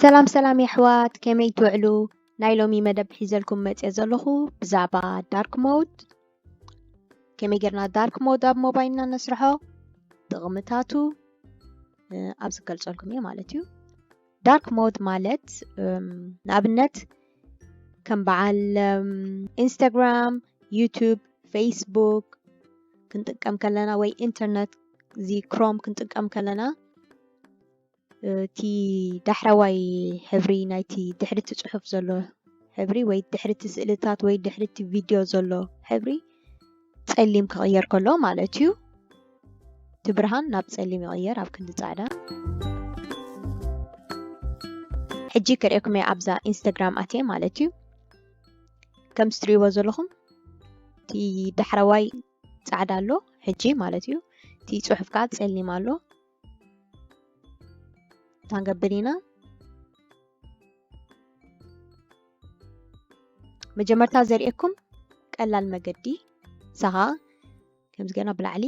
ሰላም ሰላም የሕዋት ከመይ ትውዕሉ ናይ ሎሚ መደብ ሒዘልኩም መፅኦ ዘለኹ ብዛዕባ ዳርክ ሞድ ከመይ ጌርና ዳርክ ሞድ ኣብ ሞባይልና ነስርሖ ጥቕምታቱ ኣብ ዝገልፀልኩም እየ ማለት እዩ ዳርክ ሞድ ማለት ንኣብነት ከም በዓል ኢንስታግራም ዩቱብ ፌስቡክ ክንጥቀም ከለና ወይ ኢንተርነት እዚ ክሮም ክንጥቀም ከለና እቲ ዳሕረዋይ ሕብሪ ናይቲ ድሕርቲ ፅሑፍ ዘሎ ሕብሪ ወይ ድሕርቲ ስእልታት ወይ ድሕርቲ ቪድዮ ዘሎ ሕብሪ ጸሊም ክቕየር ከሎ ማለት እዩ። እቲ ብርሃን ናብ ጸሊም ይቕየር ኣብ ክንዲ ጻዕዳ። ሕጂ ክርእየኩም እየ ኣብዛ ኢንስታግራም ኣትየ ማለት እዩ። ከም ዝትርእይዎ ዘለኹም እቲ ዳሕረዋይ ጻዕዳ ኣሎ ሕጂ ማለት እዩ። እቲ ጽሑፍ ከዓ ጸሊም ኣሎ። ክንገብር ኢና መጀመርታ ዘርእየኩም ቀላል መገዲ ሰኻ ከምዚ ገና ብላዕሊ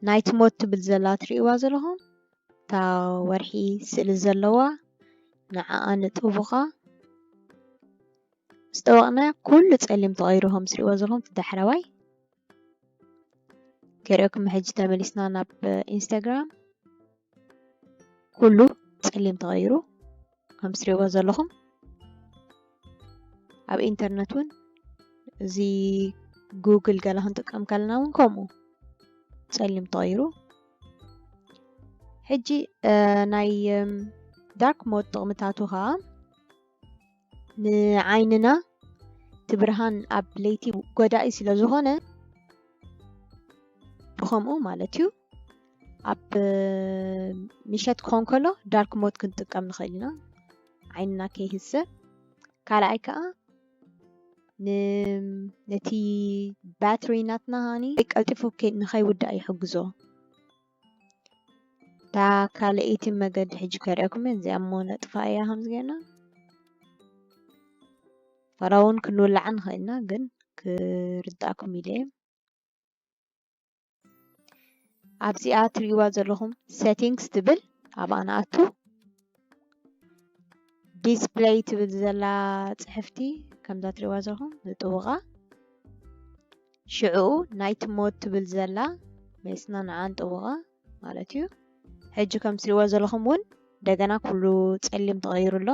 ናይቲ ሞት ትብል ዘላ ትርእይዋ ዘለኹም እታ ወርሒ ስእሊ ዘለዋ ንዓኣ ንጥቡኻ ምስ ጠወቕና ኩሉ ጸሊም ተቐይሩ ከም ትርእይዎ ዘለኹም እቲ ዳሕረዋይ ገሪኦኩም ሕጂ ተመሊስና ናብ ኢንስታግራም ኩሉ ፀሊም ተቐይሩ ከም ትሪእዎ ዘለኹም ኣብ ኢንተርነት እውን እዚ ጉግል ገለ ክንጥቀም ከለና እውን ከምኡ ፀሊም ተቐይሩ ሕጂ ናይ ዳርክ ሞድ ጥቕምታቱ ከዓ ንዓይንና እቲ ብርሃን ኣብ ለይቲ ጎዳኢ ስለ ዝኾነ ብኸምኡ ማለት እዩ ኣብ ምሸት ክኾን ከሎ ዳርክ ሞት ክንጥቀም ንኽእል ኢና ዓይንና ከይህስእ ካልኣይ ከዓ ነቲ ባትሪ ናትና ሃኒ ቀልጢፉ ንኸይውዳእ ይሕግዞ እታ ካልኣይቲ መገዲ ሕጂ ከርእየኩም እየ እዚኣ እሞ ነጥፋ እያ ከምዚ ጌርና ፈራ እውን ክንውላዕ ንኽእል ኢና ግን ክርዳእኩም ኢለ እየ ኣብዚኣ ትሪእዋ ዘለኹም ሴቲንግስ ትብል ኣብኣ ንኣቱ ዲስፕለይ ትብል ዘላ ፅሕፍቲ ከምዛ ትሪእዋ ዘለኹም ንጥውቓ ሽዕኡ ናይት ሞድ ትብል ዘላ ሜስና ንዓ ንጥውቓ ማለት እዩ ሕጂ ከም ትሪእዋ ዘለኹም እውን እንደገና ኩሉ ፀሊም ተቐይሩ ኣሎ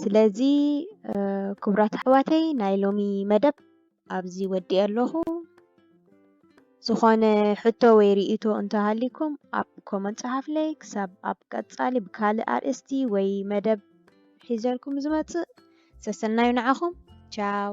ስለዚ ክቡራት ኣሕዋተይ ናይ ሎሚ መደብ ኣብዚ ወዲኤ ኣለኹ። ዝኾነ ሕቶ ወይ ርእይቶ እንተሃሊኩም ኣብ ኮመንት ጸሓፍለይ። ክሳብ ኣብ ቀጻሊ ብካልእ ኣርእስቲ ወይ መደብ ሒዘልኩም ዝመጽእ ሰሰናዩ ንዓኹም ቻው።